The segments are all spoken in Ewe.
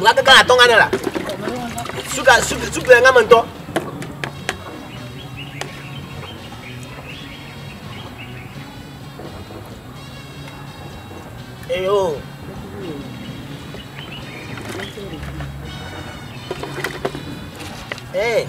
nga kaka atɔ nga ne la suka suka suka nga me ŋutɔ. eyo. Hey.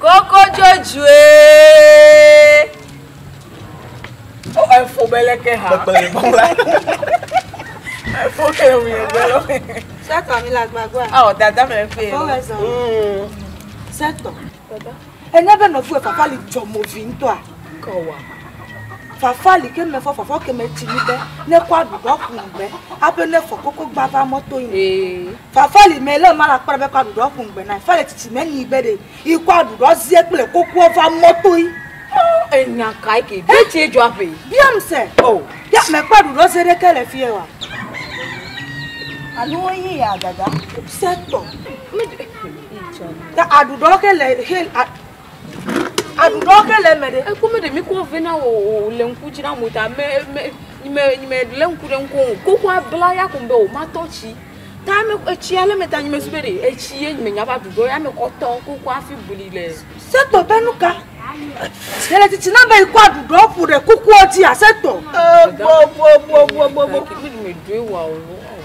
Koko dzodzoe. O oh, efo bele ke ha. Bele bɔla. Efo ke o mi bele. Sɛtɔ mi la gbagba. Awɔ ah, dada mi le fe. Kɔ wɛ zɔn. Mm. Sɛtɔ. Dada. Ene be nɔfu efafa li dzɔ mo vi ŋutɔa. Kɔ wa. Fafa li ke me fɔ fafa ke me tsi ni be ne kɔ aɖu dɔ kun be abe ne fɔ koko gbava mɔto yi. Ee. Fafali mɛ lé ma la kpɔɖe be kɔ aɖuɖɔ ƒo ŋgbe nae. Fale tsitsi mɛ nii be ɖe yi kɔ aɖuɖɔ zie kple kokoɔ va mɔ toi. Oh, enya kae ke? Ɖe tsie dzɔ aƒe? Biam se. Oh. Ya mɛ kpɔ aɖuɖɔ zie ɖe ke le fiɛ wa? Anu wo yi ya dada. Se tɔ. Mɛ ɖe. Yi tsɔ. Ta aɖuɖɔ ke le he a. Aɖuɖɔ ke le eme ɖe. Eku me ɖe mi kɔ vɛ na wo o le ŋku dzi na mo ta me me nyime nyime le ŋku ɖe ŋku o. Kuku abla ya kun be o ma tɔ tsi. Ta me etsi ale me ta nyime su be ɖe etsi ye nyime nya va ɖuɖɔ ya me kɔ tɔ kuku afi buli le. Se tɔ be nu ka? Yele titi na be ikɔ aɖuɖɔ ƒo ɖe kuku dzi a se tɔ. E bo bo bo bo bo bo. Ki mi me doe wa o.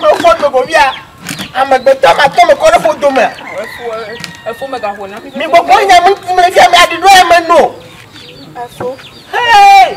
Mefɔ do go via. Amegbetɔ ma tɔ me kɔ ɖe fo dome. Efo me gaxɔ na. Mi gbogbo nya mi ti me via mi adi ɖo eme no. Efo. Hey!